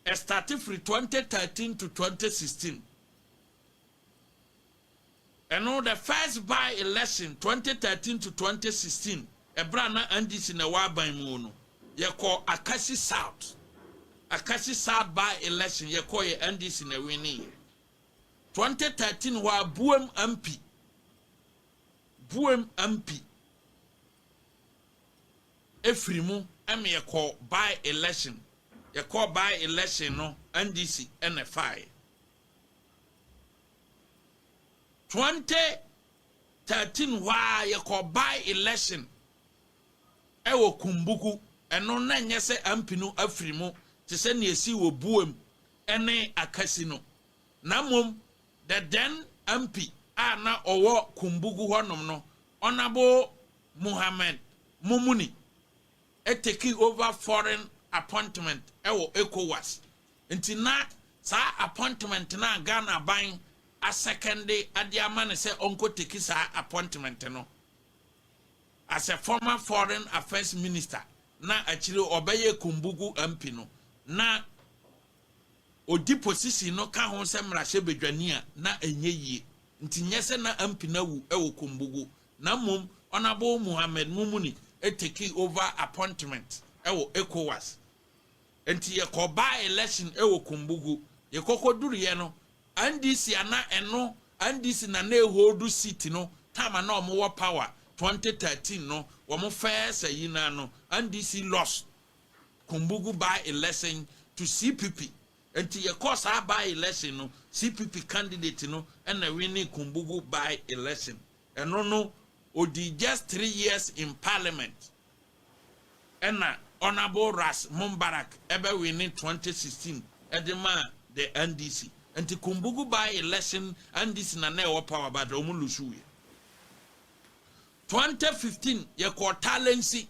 ɛstate firi twenty thirteen to twenty sixteen Ɛno, the first by election twenty thirteen to twenty sixteen, ɛberɛ a na NDC na ɛwɔ aban mu no, yɛkɔɔ Akasi South, Akasi South by election, yɛkɔeɛ, NDC na ɛwineeɛ. Twenty thirteen hɔ ara, Buem MP, Buem MP, ɛfiri mu ɛma yɛkɔɔ by election, yɛkɔɔ by election no, NDC na ɛfaeɛ. Twenty thirteen hɔ ara yɛkɔ by election ɛwɔ Kumbuku ɛno na nyɛ sɛ Ampi no afiri mu te sɛ nea ɛsii wɔ Buem ɛne Akasi no na mmom the then Ampi a na ɔwɔ Kumbuku hɔ nom no Honourable Mohammed Mumuni ɛteki over foreign appointment ɛwɔ Ecowas. Nti na saa appointment no a Ghana aban asɛkɛnde de ama no sɛ ɔnkɔ teki saa appointment no, as a former foreign affairs minister na akyire yi ɔbɛyɛɛ Kumbugu MP no, na ɔdi position no ka ho sɛ mmarahyɛbadwani a, na ɛnyɛ yie. Nti nyɛ sɛ na MP no awu wɔ Kumbugu, na mmom Honourable Mohammed Mumuni tekii over appointment wɔ ECOWAS. Nti yɛkɔ by election wɔ Kumbugu. Yɛkɔkɔduruiɛ no, NDC a na ɛno NDC na na ɛholdu seat no time a na wɔn wɔ power, 2013 no, wɔn first ayi no ara no, NDC lost Kumbugu by election to CPP. Nti yɛkɔɔ saa by election no, CPP candidate no na winee Kumbugu by election. Ɛno no, ɔdii just three years in parliament. ɛna Honourable Ras Mumbarak bɛwine twenty sixteen de maa the NDC. Nti Kumbugu by election NDC na na ɛwɔ power but ɔmo lusuuiɛ. Twenty fifteen yɛkɔɔ Talensi,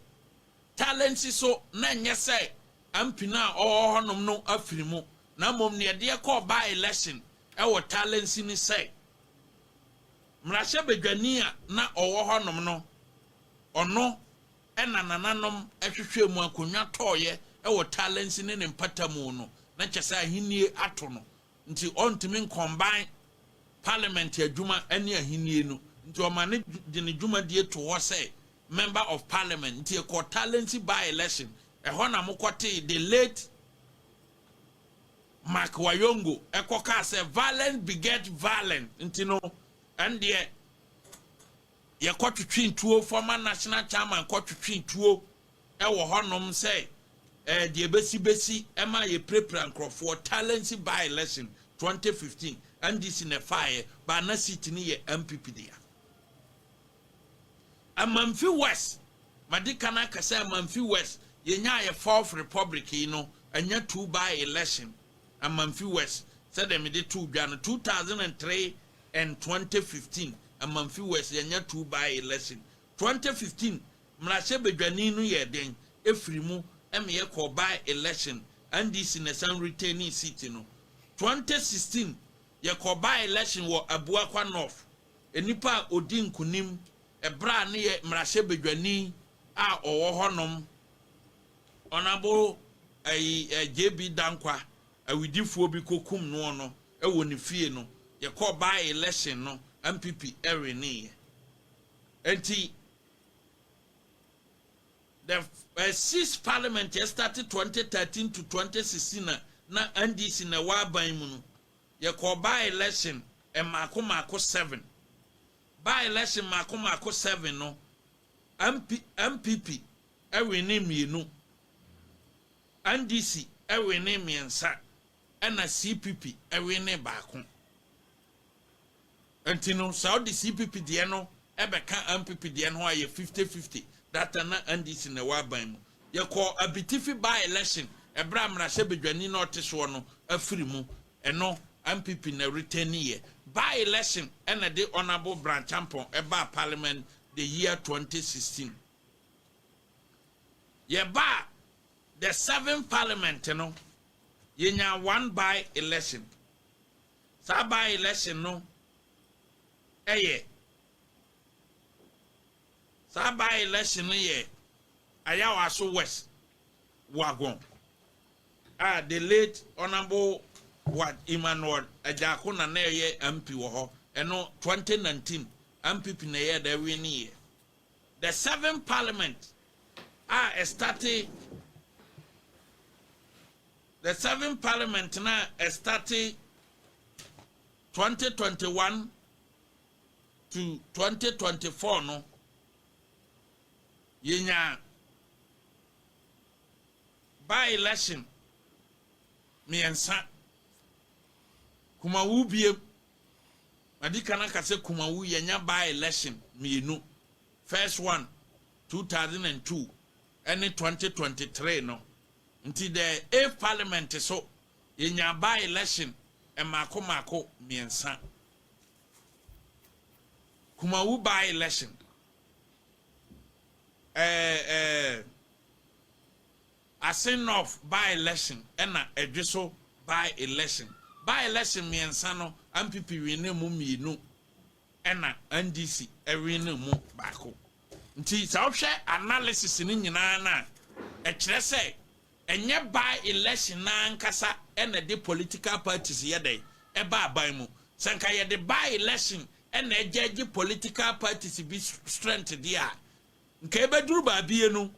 Talensi so na ɛnyɛ sɛ MP no a ɔwɔ hɔ nom no afiri mu na mmom neɛ ɛde yɛkɔɔ by election ɛwɔ Talensi ne sɛ, Mmarahyɛbadwani a na ɔwɔ hɔnom no, ɔno na nananom hwehwɛɛ mu akonnwa tɔeɛ wɔ Talensi ne ne mpatamu no, na kyerɛ sɛ ahennie ato no nti ɔntumi nkɔmbae Parliament adwuma ne ahennie no nti ɔma no de ne dwumadie too hɔ sɛ Member of Parliament nti ɛkɔɔ Talensi by-election, ɛhɔ na mokɔtee the late Mark Wayongo kɔ kaa sɛ violence beget violence nti no ɛndeɛ yɛkɔ twetwe tuo former national chairman kɔ twetwe tuo ɛwɔ hɔnom sɛ ɛɛ eh, deɛ bɛsi bɛsi ɛma eh, yɛpirapira nkurɔfoɔ talents by election 2015 NDC na ɛfaeɛ baa na seat no yɛ MPP dea. Amanfi West, Madi kan aka sɛ Amanfi West, yɛnyaa yɛ fourth republic yi no, ɛnyɛ two by election, Amanfi West, sɛdeɛ mede too dwa no, two thousand and three and twenty fifteen, Amanfi West, yɛnnya two by election, twenty fifteen mmarahyɛbadwani no yɛɛ dɛn firi mu ma yɛkɔɔ by election, NDC na ɛsan retainee seat no, twenty sixteen, yɛkɔɔ by election wɔ Abuakwa North, Nnipa a ɔdi nkonim ɛberɛ a ne yɛ mmarahyɛbadwani a ɔwɔ hɔ nom Honourable JB Dankwa awidifoɔ bi kɔ kum noɔ no wɔ ne fie no yɛkɔɔ by election no NPP wineeɛ nti the six parliament yɛ starte 2013 to 2016 na na NDC na ɛwɔ aban mu no Yɛkɔɔ by-election mmaako mmaako seven. By-election mmaako mmaako seven no, MP, NPP winee mmienu, NDC winee mmiɛnsa, ɛna CPP winee baako. Nti no sɛ ɔde CPP deɛ no bɛka NPP deɛ no ho a ɛyɛ fifty fifty, that time na NDC na ɛwɔ aban mu. Yɛkɔɔ Abitifi by election ɛberɛ a mmarahyɛ badwani no a ɔte soɔ no afiri mu, ɛno NPP na ɛretɛniiɛ. By election na ɛde Honourable Brantchampong baa parliament the year twenty sixteen. Yɛbaa the seventh parliament no yɛnyaa one by election. Saa by election no yɛ Saa by election no yɛ Ayawaso West Wuagon a the late Honourable Ward Emmanuel Agyarko na na ɛyɛ MP wɔ hɔ ɛno 2019 NPP na ɛyɛ dɛ winning yɛ the seven parliament a ɛstate The seventh parliament no a ɛstate twenty twenty one to twenty twenty four no, yɛnyaa by election mmiɛnsa. Kumawu biem, madi kan aka sɛ Kumawu yɛnya by election mmienu, first one two thousand and two ɛne twenty twenty three no. Nti dɛ Ave parliament so yɛnyaa by election mmaako mmaako mmiɛnsa. Kumawu by election, eh eh Asin North by election ɛna Ɛdweso by election. By election mmiɛnsa no, ampp winnee mu mmienu. ɛna NDC win no mu baako. Nti sɛ wohwɛ analysis no nyinaa no a, ɛkyerɛ sɛ ɛnyɛ by election no ara ankasa na ɛde political parties yɛ dɛn? ɛba aban mu. Sɛ anka yɛde by election na ɛgyɛɛgye political parties bi strength deɛ a, Nka ɛbɛduru baabi yi no,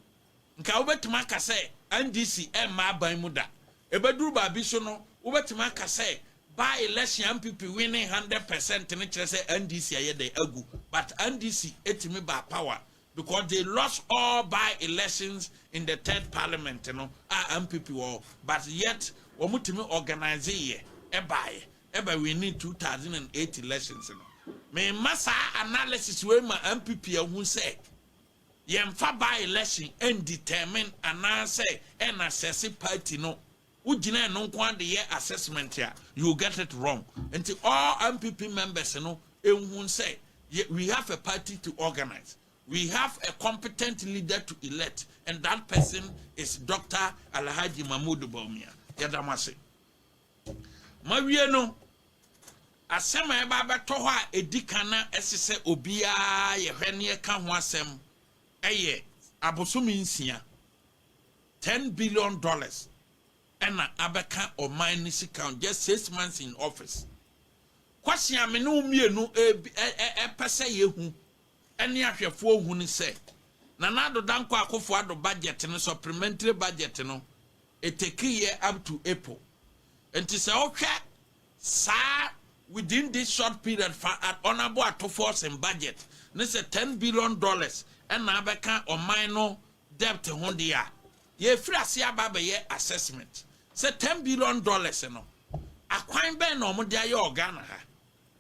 nka wobɛtumi aka sɛ NDC remma aban mu da. Ɛbɛduru baabi so no, wobɛtumi aka sɛ by election a NPP winning hundred percent no kyerɛ sɛ NDC ayɛ dɛn? Agu. But NDC tumi baa power because they lost all by elections in the third parliament no a NPP wɔ hɔ but yet wɔtumi organiseeɛ baeɛ. Ɛba winning two thousand and eight elections no, me mma saa analysis wei ma NPP ahu sɛ yɛn mfa by election ɛn determine anaa sɛ ɛn assess party no, wo gyina ɛno nko ara de yɛ assessment a, you get it wrong. Nti all NPP members no nhu sɛ yɛ, we have a party to organize, we have a competent leader to elect and that person is Doctor Alhaji Mahmoud Bawumia. Yɛda mo ase. Mawie no, asɛm a ɛba abɛtɔ hɔ a edi kan na ɛsɛ sɛ obiara yɛ hwɛ na yɛka ho asɛm yɛ abosome nsia, ten billion dollars ɛna abɛka ɔman no sika ho, just six months in office. Kwasi a me ne wo mmienu ɛpɛ sɛ yɛhu ne ahwɛfoɔ hu ne sɛ, Nana Addo Dankwa Akufo Addo budget no, supplementary budget no, ɛtake yɛ up to April. Nti sɛ wohwɛ saa within this short period fa an honourable Attofor's budget ne sɛ ten billion dollars na abɛka ɔman no debt ho deɛ a, yɛrefiri aseɛ aba abɛyɛ assessment sɛ ten billion dollars no, akwan bɛn na wɔde ayɛ wɔ Ghana ha?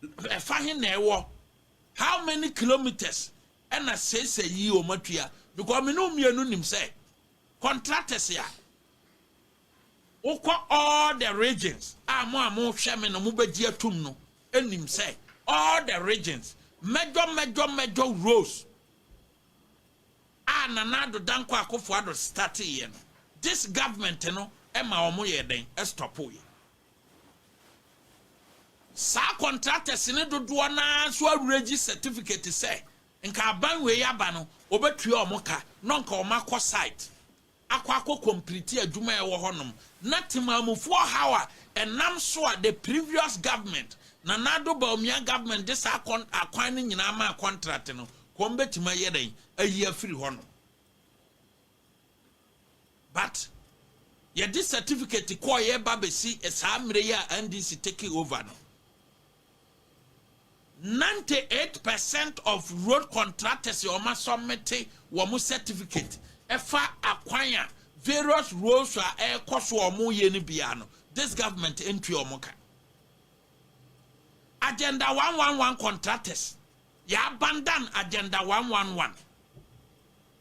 Ɛfa he na ɛwɔ? How many kilometres ɛna seisei yi wɔn atua because me ne wo mmienu nim sɛ contractors a wokɔ all the regions a mo a mohwɛ me no mobɛgye atum no nim sɛ all the regions mɛdwɔ mɛdwɔ mɛdwɔ rows a Nana Addo Dankwa Akufo-Addo starteeɛ no this government no ɛma wɔn yɛ dɛn ɛstɔpoeɛ. Saa contractors no dodoɔ no ara nso awerɛgye certificate sɛ nka aban wei aba no wɔbɛtua wɔn ka na nka wɔakɔ site akɔ akɔ complete adwuma a ɛwɔ hɔnom na temaamufoɔ ɔhaw a ɛnam so a the previous government, Nana Addo Bawumia government de saa akwan no nyinaa maa contract no, wɔbɛtumi ayɛ dɛn ayi afiri hɔnom. But yɛde certificate kɔɔyɛ ba bɛsi saa mmerɛ yi a NDC take over no, 98 percent of road contractors a wɔasɔmete wɔn certificate ɛfa akwan a various roads a ɛrekɔ so a wɔyɛ no biara no, this government ntua wɔn ka. Agenda 111 contractors, yɛabandan agenda 111.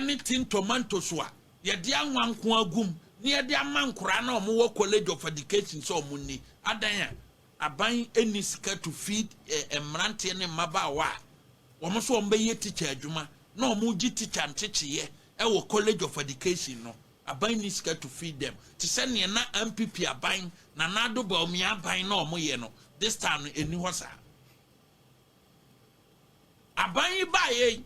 ne tin tomatoes a yɛde anwa nko agu mu na yɛde ama nkoraa na wɔn wɔ college of education sɛ wɔn nni, adan a aban nni sika to feed mmeranteɛ ne mmabaawa a wɔn nso wɔn bɛyɛ teacher adwuma na wɔn regye teacher ntekyeyɛ ɛwɔ college of education no, aban nni sika to feed them, te sɛ neɛ na NPP aban, Nana Addo Bawumia aban na wɔn yɛ no, this time no ɛnni hɔ saa. Aban yi baeɛ yi,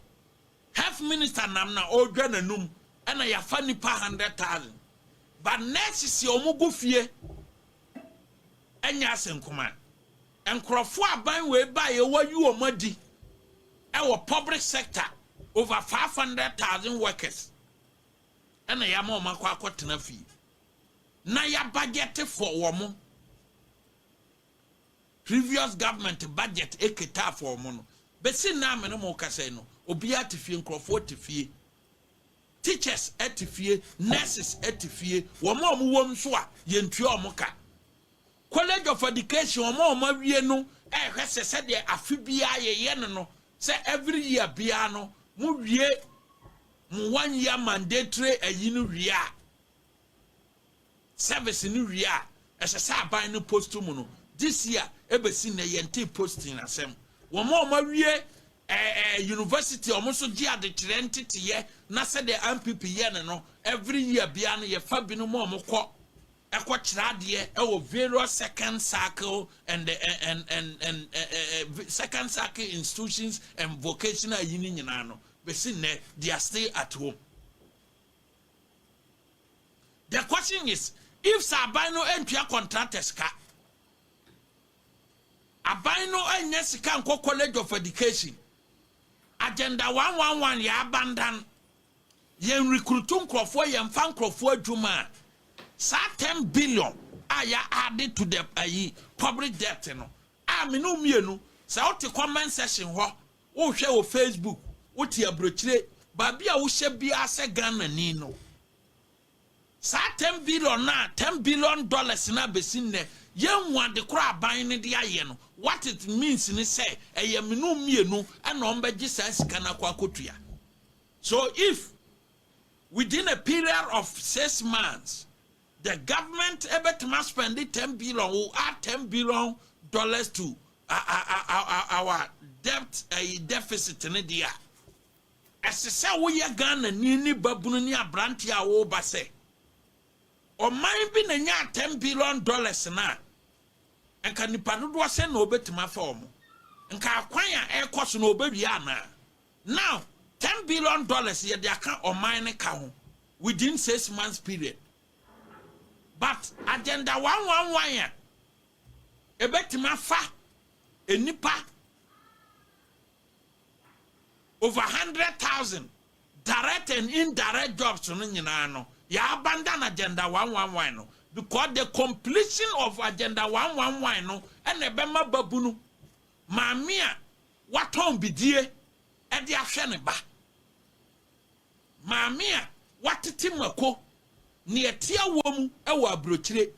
health minister nam na ɔredwa n'anum na yɛafa nnipa hundred thousand. But nurses a wɔgu fie ɛnyɛ ase nkuma. Nkurɔfoɔ aban wei baeɛ wɔayi wɔn adi ɛwɔ public sector over five hundred thousand workers ɛna yɛama wɔn akɔ akɔtena fie na yɛabudget for wɔn. previous government budget ɛketaa for ɔmo no, bɛsi nnɛ a me ne mo rekasa yi no, obiara te fie, nkorɔfoɔ te fie, teachers te fie, nurses te fie, wɔn a wɔn wom nso a yɛntua wɔn ka. College of Education wɔn a wɔn awie no ɛrehwɛ sɛ sɛdeɛ afe biara yɛyɛ no no sɛ every year biara no mo wie mo one year mandatory ayi no wie a service no wie a ɛsɛ sɛ aban no post mu no, this year ɛbɛsi nnɛ yɛntee posting asɛm. Wɔn a wɔawie eh, eh, university wɔn nso gye adekyerɛ nteteyɛ na sɛdeɛ ampp yɛ no no, every year biara no yɛfa binom a wɔkɔ ɛkɔ kyerɛ adeɛ ɛwɔ various second cycle and, eh, eh, and, and, and eh, eh, eh, second cycle institutions and vocational yi no nyinaa no, bɛsi nnɛ they are still at home. The question is if sɛ aban no ntua contractor sika, aban no nyɛ sika nkɔ college of education, agenda 111 yɛ abandan, yɛn rekrutu nkurɔfoɔ yɛn fa nkurɔfoɔ adwuma a, saa 10 billion a yɛ added to the ayi public debt no a mene mmienu sɛ wote comment section hɔ Wohwɛ wo Facebook, wote abrokyire, baabi a wohyɛ biara sɛ Ghanani no, saa ten billion no a, ten billion dollars no a bɛsi nnɛ, yɛnhu ade korɔ a aban no de ayɛ no, what it means ne sɛ, ɛyɛ me ne wo mmienu na wɔbɛgye saa sika no akɔ akɔtua. So if within a period of six months, The government bɛtumi a spɛnde ten billion wo add ten billion dollars to our debt ɛyi deficit no deɛ a, ɛsɛ sɛ woyɛ Ghanani ne babunu ne aberanteɛ a woreba sɛ, ɔman bi na nyaa ten billion dollars no a, nka nipa dodoɔ sɛn na ɔbɛtumi afa wɔn? Nka akwan a ɛrekɔ so no ɔbɛwie anaa? Now ten billion dollars yɛde aka ɔman no ka ho within six months period but agenda one one one a ɛbɛtumi afa nnipa over hundred thousand direct and indirect jobs no nyinaa no yɛ abandon agenda one one one no because the completion of agenda one one one no ɛna ɛbɛma babunu maame a Watɔn bidie de ahwɛ ne ba. Maame a watete mako na ɛte awɔ mu wɔ aburokyire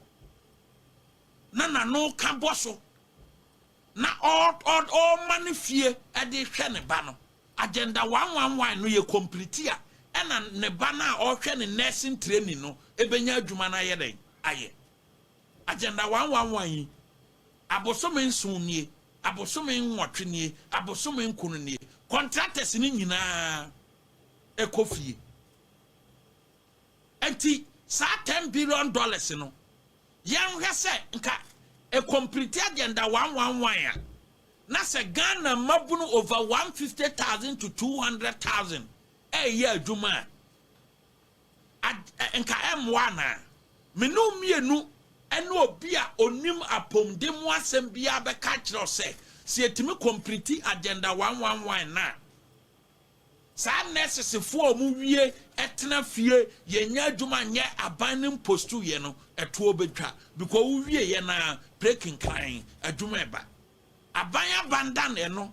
na n'ano ka bɔ so na ɔrema ne fie de rehwɛ ne ba no, agenda one one one no yɛ kɔmpliti a, ɛna ne ba no a ɔrehwɛ ne nursing training no bɛnya adwuma no ayɛ dɛn ayɛ? Agenda one one one yi. Abosome nson nie, abosome nwɔtwe nie, abosome nkono nie, contractors no nyinaa kɔ fie. Nti saa ten billion dollars no, yɛnhwɛ sɛ nka ɛcomplete agenda one one one a, na sɛ Ghana mmabunu over one fifty thousand to two hundred thousand ɛreyɛ adwuma a, Anka ɛremmoa anaa? Me ne wo mmienu ne obi a ɔnim apɔmuden mu asɛm biara bɛka akyerɛ wo sɛ, sɛ yɛtumi kɔmpliti Agenda 111 no a, saa nɛɛsesefoɔ a wɔwie tena fie yɛnnya adwuma nyɛ aban no mpostuiɛ no, ɛtoɔ bɛtwa because wowieeɛ no ara, pire kenkran, adwuma reba. Aban abandan ɛno.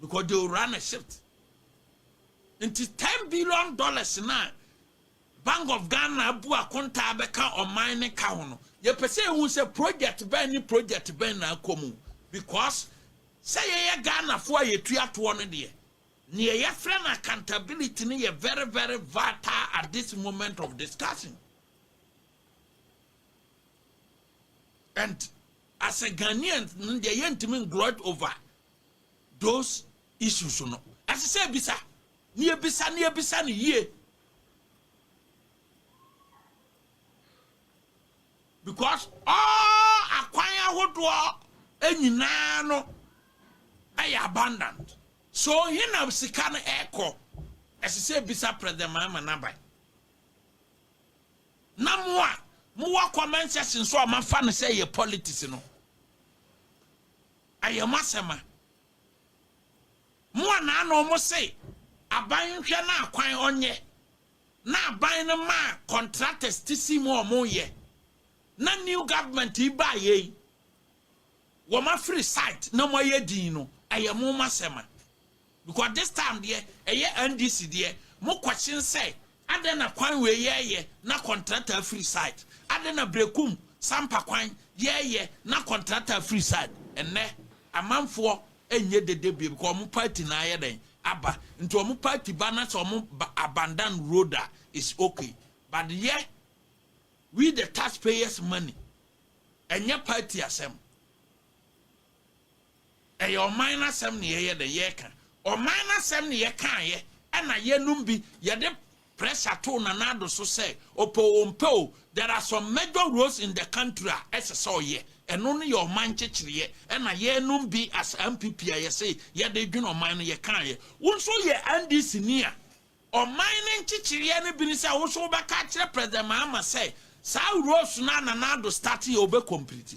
because they will run a shift nti ten billion dollars na bank of ghana abu akontaa bɛka ɔman ne ka ho no yɛpɛ sɛ ehu sɛ project bɛn ne project bɛn na akɔ mu because sɛ yɛyɛ ghanafoɔ a yɛtua toɔ no deɛ neɛ yɛfrɛ no accountability no yɛ very very vital at this moment of discussion and as a Ghanaians no deɛ yɛntumi ngloat over those issues no. Ɛsɛ sɛ ebisa, ne ebisa, ne ebisa no yie. Because all akwan ahodoɔ nyinaa no ɛyɛ abundant. So he na sika no ɛkɔ. Ɛsɛ sɛ ebisa President Mahama n'aban. Na mo a mo wɔ comment section so a mo afa no sɛ ɛyɛ politics no, ɛyɛ mo asɛm a. Mo a na ano mo se aban nhwɛ na akwan ɔnyɛ, na aban no ma contractors ti si mu a wɔn yɛ, na new government yi baa yɛ yi, wɔn afiri site na mo ayɛ din no, ɛyɛ mo mo asɛm a. Because this time deɛ ɛyɛ NDC deɛ mo question sɛ adɛn na kwan wei yɛɛyɛ na contractor afiri site adɛn na Brekum Sampa kwan yɛɛyɛ na contractor afiri site ɛnnɛ amanfoɔ ɛnyɛ dede bio because wɔn party no ayɛ dɛn aba nti wɔn party ba na sɛ wɔn ba abandon road a is okay but yɛ we the taxpayers money ɛnyɛ party asɛm. Ɛyɛ ɔman no asɛm na yɛyɛ dɛn? Yɛka. Ɔman no asɛm na yɛkaeɛ, ɛna yeinom bi, yɛde pressure too Nana Addo so sɛ, ɔpɛ o ɔmpɛ o, there are some major roles in the country a ɛsɛ sɛ ɔyɛ. Ɛno no yɛ ɔman nkyekyereɛ, ɛna yeinom bi as NPP a yɛse yɛde dwene ɔman no, yɛkaeɛ. Wo nso woyɛ NDC-ni a, ɔman no nkyekyereɛ no bi ne sɛ, wo nso wobɛka akyerɛ President Mahama sɛ, saa roles no a Nana Addo starteɛ, ɔbɛcomplete.